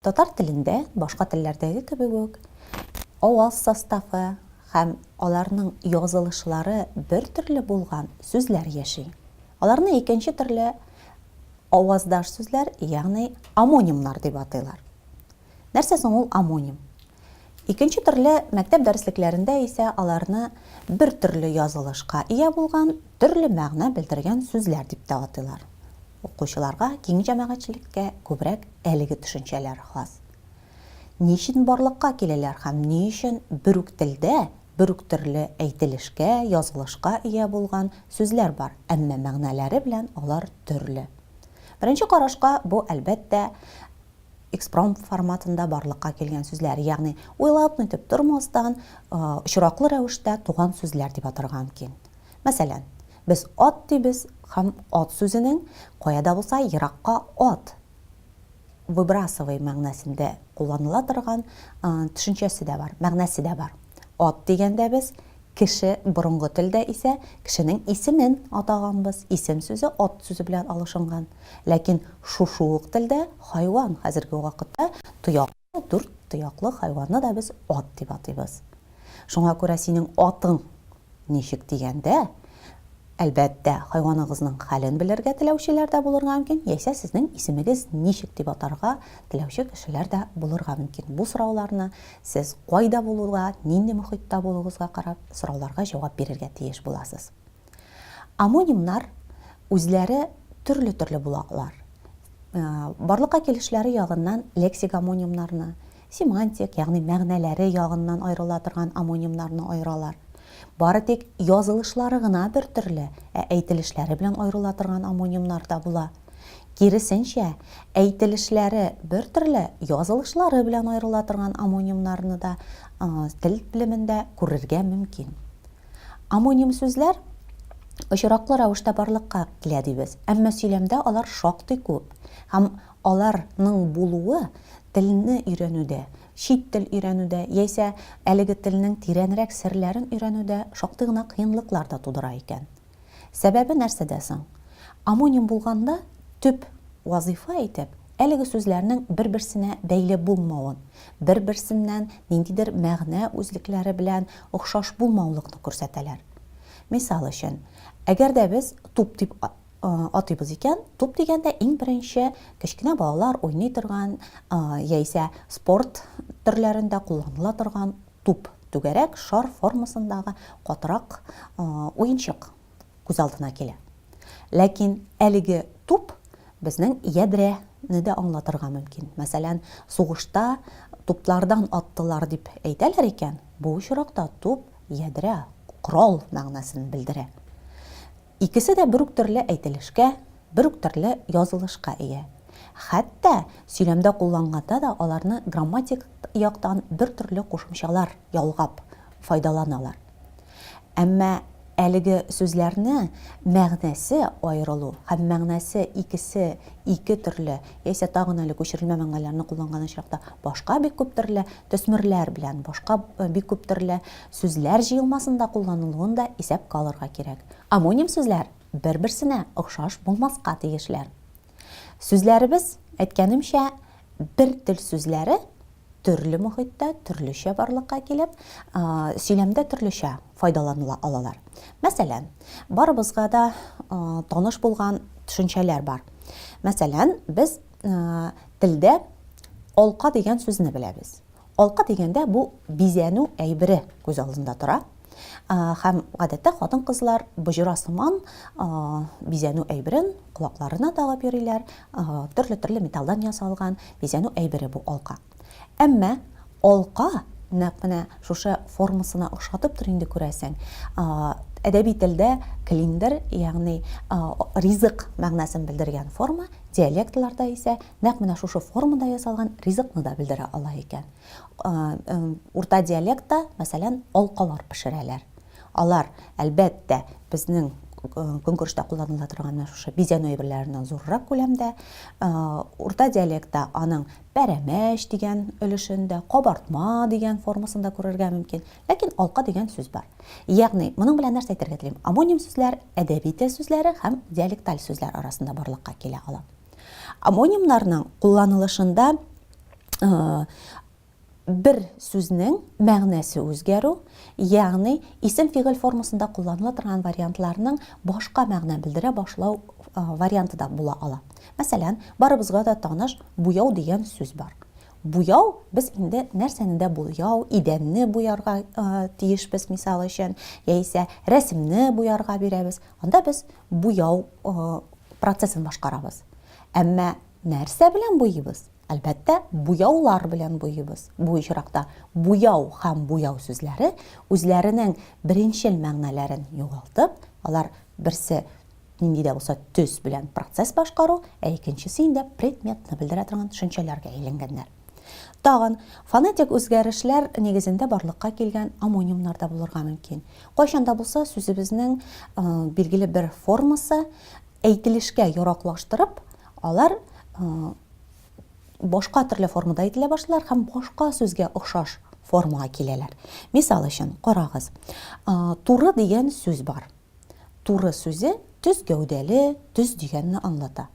Татар телендә башка телләрдәге кебек үк аваз составы һәм аларның язылышлары бер төрле булган сүзләр яши. Аларны икенче төрле аваздаш сүзләр, ягъни амонимнар дип атыйлар. Нәрсә соң ул амоним? Икенче төрле мәктәп дәреслекләрендә исә аларны бер төрле язылышка ия булган, төрле мәгънә белдергән сүзләр дип тә атыйлар. Укучыларга, киң җәмәгатьчелеккә күбрәк әлеге төшенчәләр хас. Ни өчен барлыкка киләләр һәм ни өчен бер үк телдә бер үк төрле әйтелешкә, язылышка ия булган сүзләр бар, әмма мәгънәләре белән алар төрле? Беренче карашка бу, әлбәттә, экспромт форматында барлыкка килгән сүзләр, ягъни уйлап-нитеп тормастан, очраклы рәвештә туган сүзләр дип атарга мөмкин. Мәсәлән, без ат дибез һәм ат сүзенең кая да булса еракка ат, выбрасывай мәгънәсендә кулланыла торган төшенчәсе дә бар, мәгънәсе дә бар. Ат дигәндә без Кеше, борынгы телдә исә кешенең исемен атаганбыз, исем сүзе ат сүзе белән алышынган. Ләкин шушы ук телдә хайван, хәзерге вакытта тояклы, дүрт тояклы хайванны да без ат дип атыйбыз. Шуңа күрә синең атың ничек дигәндә, Әлбәттә, хайваныгызның хәлен белергә теләүчеләр дә булырга мөмкин, яисә сезнең исемегез ничек дип атарга теләүче кешеләр дә булырга мөмкин. Бу сорауларны сез кайда булуга, нинди мохитта булуыгызга карап, сорауларга җавап бирергә тиеш буласыз. Омонимнар үзләре төрле-төрле була алар. Барлыкка килешләре ягыннан лексик омонимнарны, Семантик, ягъни мәгънәләре ягыннан аерыла торган омонимнарны аералар. Бары тик язылышлары гына бер төрле, ә әйтелешләре белән аерыла торган омонимнар да була. Киресенчә, әйтелешләре бер төрле, язылышлары белән аерыла торган омонимнарны да тел белемендә күрергә мөмкин. Омоним сүзләр очраклы рәвештә барлыкка килә дибез, әмма сөйләмдә алар шактый күп һәм Алар ның булуы телне өйрәнүдә, чит тел өйрәнүдә яисә әлеге телнең тирәнрәк серләрен өйрәнүдә шактый гына кыенлыклар да тудыра икән. Сәбәбе нәрсәдә соң? Омоним булганда төп вазыйфа итеп әлеге сүзләрнең бер-берсенә бәйле булмавын, бер-берсеннән ниндидер мәгънә үзлекләре белән охшаш булмаулыкны күрсәтәләр. Мисал өчен, әгәр дә без туп дип атыйбыз икән, туп дигәндә иң беренче кечкенә балалар уйный торган яисә спорт төрләрендә кулланыла торган туп, түгәрәк, шар формасындагы катырак уенчык күз алдына килә. Ләкин әлеге туп безнең ядрә не дә аңлатырга мөмкин. Мәсәлән, сугышта туплардан аттылар дип әйтәләр икән, бу очракта туп ядрә, корал мәгънәсен белдерә. Икесе дә бер үк төрле әйтелешкә, бер үк төрле язылышка ия. Хәтта сөйләмдә кулланганда да аларны грамматик яктан бер төрле кушымчалар ялгап файдаланалар. Әмма әлеге сүзләрне мәгънәсе аерылу һәм мәгънәсе икесе ике төрле яисә тагын әле күчерелмә мәгънәләрне кулланган очракта башка бик күп төрле төсмерләр белән башка бик күп төрле Сүзләр җыелмасында кулланылуын да исәпкә алырга кирәк. Омоним сүзләр бер-берсенә охшаш булмаска тиешләр. Сүзләребез, әйткәнемчә, бер тел сүзләре төрле мохиттә төрлечә барлыкка килеп, сөйләмдә төрлечә файдаланыла алалар. Мәсәлән, барыбызга да таныш булган төшенчәләр бар. Мәсәлән, без телдә алка дигән сүзне беләбез. Алка дигәндә бу бизәнү әйбере күз алдында тора. Һәм гадәттә хатын-кызлар боҗра сыман бизәнү әйберен колакларына тагып йөриләр, төрле-төрле металлдан ясалган бизәнү әйбере бу алка. Әмма алка нәкъ менә шушы формасына охшатыптыр инде күрәсең. Әдәби телдә клиндер, ягъни ризык мәгънәсен белдергән форма, диалектларда исә Нәкъ менә шушы формада ясалган ризыкны да белдерә ала икән. Урта диалектта, мәсәлән, алкалар пешерәләр. Алар, әлбәттә, безнең көнкүрештә кулланыла торган менә шушы бизәнү әйберләреннән зуррак күләмдә. Урта диалектта аның пәрәмәч дигән өлешен дә, кабартма дигән формасын да күрергә мөмкин. Ләкин алка дигән сүз бар. Ягъни, моның белән нәрсә әйтергә телим? Амоним сүзләр, әдәби тел сүзләре һәм диалекталь сүзләр арасында барлыкка килә ала. Амонимнарның кулланылышында бер сүзнең мәгънәсе үзгәрү, ягъни исем-фигыль формасында кулланыла торган вариантларның башка мәгънә белдерә башлау варианты да була ала. Мәсәлән, барыбызга да таныш буяу дигән сүз бар. Буяу без инде нәрсәне дә буяу, идәнне буярга тиешбез, мисал өчен, яисә рәсемне буярга бирәбез. Анда без Буяу процессын башкарабыз. Әмма нәрсә белән буйыйбыз? Әлбәттә, буяулар белән буйыйбыз. Бу очракта буяу һәм буяу сүзләре үзләренең беренчел мәгънәләрен югалтып, алар берсе нинди дә булса төс белән процесс башкару, ә икенчесе инде предметны белдерә торган төшенчәләргә әйләнгәннәр. Тагын, фонетик үзгәрешләр нигезендә барлыкка килгән омонимнар да булырга мөмкин. Кайчан да булса сүзебезнең билгеле бер формасы әйтелешкә яраклаштырып, алар башка төрле формада әйтелә башлар һәм башка сүзгә охшаш формага киләләр. Мисал өчен, карагыз. Туры дигән сүз бар. Туры сүзе төз гәүдәле, төз дигәнне аңлата.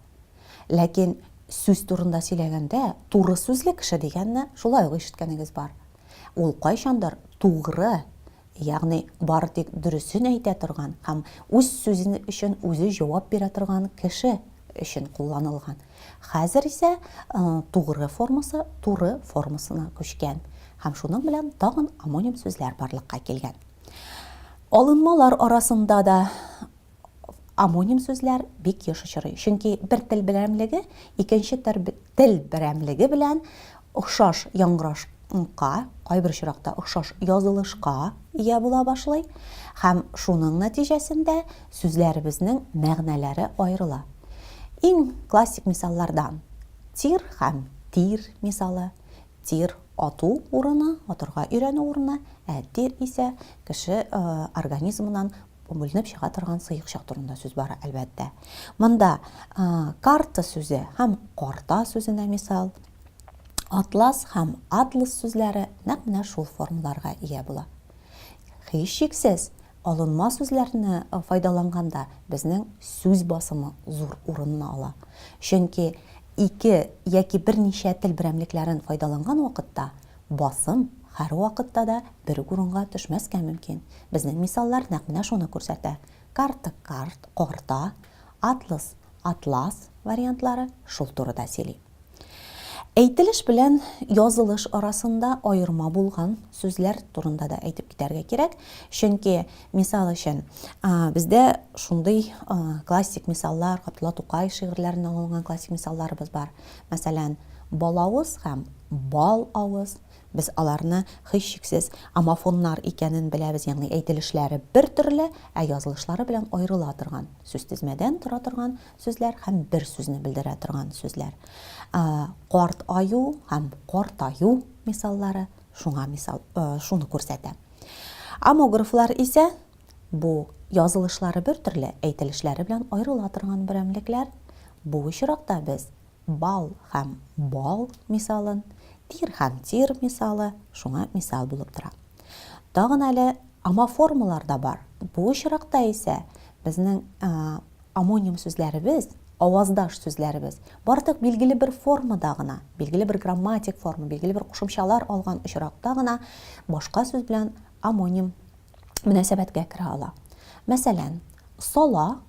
Ләкин сүз турында сөйләгәндә, туры сүзле кеше дигәнне шулай ук ишеткәнегез бар. Ул кайчандыр тугры, ягъни бары тик дөресен әйтә торган һәм үз сүзе өчен үзе җавап бирә торган кеше өчен кулланылган. Хәзер исә тугры формасы туры формасына күчкән һәм шуның белән тагын омоним сүзләр барлыкка килгән. Алынмалар арасында да амоним сүзләр бик еш очрый. Чөнки бер тел берәмлеге икенче тел берәмлеге белән охшаш яңгыраш ка, кайбер очракта охшаш язылышка ия була башлый һәм шуның нәтиҗәсендә сүзләребезнең мәгънәләре аерыла. Иң классик мисаллардан тир һәм тир мисалы. Тир ату урыны, атырга өйрәнү урыны, ә тир исә кеше организмыннан бүленеп чыга торган сыекчык турында сүз бара, әлбәттә. Монда карта сүзе һәм карта сүзенә мисал, атлас һәм атлас сүзләре нәкъ менә шул формаларга ия була. Һичшиксез, Алынма сүзләрне файдаланганда безнең сүз басымы зур урынны ала. Чөнки ике яки берничә тел берәмлекләрен файдаланган вакытта басым һәрвакытта да бер үк урынга төшмәскә мөмкин. Безнең мисаллар нәкъ менә шуны күрсәтә. Карта, карт, карта, атлас, атлас вариантлары шул турыда сөйли. Әйтелеш белән язылыш арасында аерма булган сүзләр турында да әйтеп китәргә кирәк. Чөнки, мисал өчен, бездә шундый классик мисаллар, Габдулла Тукай шигырьләреннән алынган классик мисалларыбыз бар. Мәсәлән, балавыз һәм бал авыз. Без аларны һичшиксез амофоннар икәнен беләбез, ягъни әйтелешләре бер төрле, ә язылышлары белән аерыла торган, сүзтезмәдән тора торган сүзләр һәм бер сүзне белдерә торган сүзләр. Карт аю һәм картаю мисаллары шуңа мисал, шуны күрсәтә. Амографлар исә бу язылышлары бер төрле, әйтелешләре белән аерыла торган берәмлекләр. Бу очракта без бал һәм бал мисалын, тир һәм тир мисалы шуңа мисал булып тора. Тагын әле амоформалар да бар. Бу очракта исә безнең Омоним сүзләребез, аваздаш сүзләребез, бардык билгеле бер формада гына, билгеле бер грамматик форма, билгеле бер кушымчалар алган очракта гына башка сүз белән омоним мөнәсәбәткә керә ала. Мәсәлән, сала,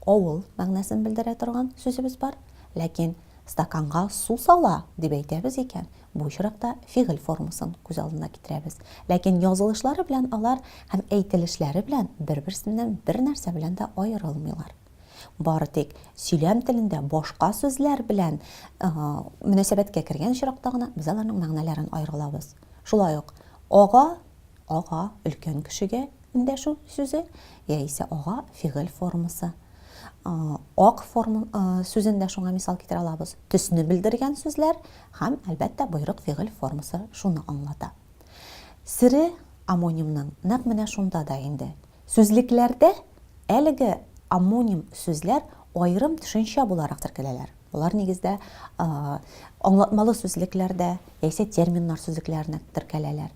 авыл мәгънәсен белдерә торган сүзебез бар, ләкин стаканга су сала дип әйтәбез икән, Бу очракта фигыль формасын күз алдына китерәбез. Ләкин язылышлары белән алар һәм әйтелешләре белән бер-берсеннән бернәрсә белән дә аерылмыйлар. Бары тик сөйләм телендә башка сүзләр белән мөнәсәбәткә кергән очракта гына без аларның мәгънәләрен аерып алабыз. Шулай ук ага, ага, өлкән кешегә эндәшү сүзе яисә ага фигыль формасы Ак форма сүзен дә шуңа мисал китерә алабыз. Төсне белдергән сүзләр һәм, әлбәттә, боерык фигыль формасы шуны аңлата. Сере омонимның нәкъ менә шунда да инде. Сүзлекләрдә әлеге омоним сүзләр аерым төшенчә буларак теркәләләр. Алар нигездә аңлатмалы сүзлекләрдә яисә терминнар сүзлекләренә теркәләләр.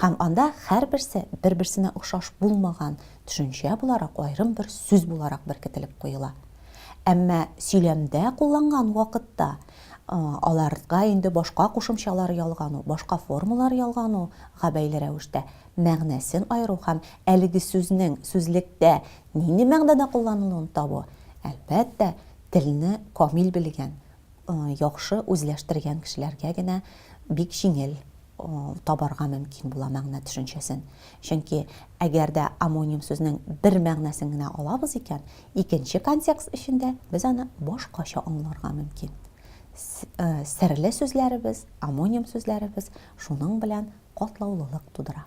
Һәм анда һәрберсе бер-берсенә охшаш булмаган төшенчә буларак аерым бер сүз буларак беркетелеп куела. Әмма сөйләмдә кулланган вакытта аларга инде башка кушымчалар ялгану, башка формалар ялгануга бәйле рәвештә мәгънәсен аеру һәм әлеге сүзнең сүзлектә нинди мәгънәдә кулланылуын табу, әлбәттә, телне камил белгән, яхшы үзләштергән кешеләргә генә бик җиңел. табарга мөмкин була мәгънә төшенчәсен. Чөнки әгәр дә амоним сүзнең бер мәгънәсен генә алабыз икән, икенче контекст эчендә без аны башкача аңларга мөмкин. Э, серле сүзләребез, амоним сүзләребез шуның белән катлаулылык тудыра.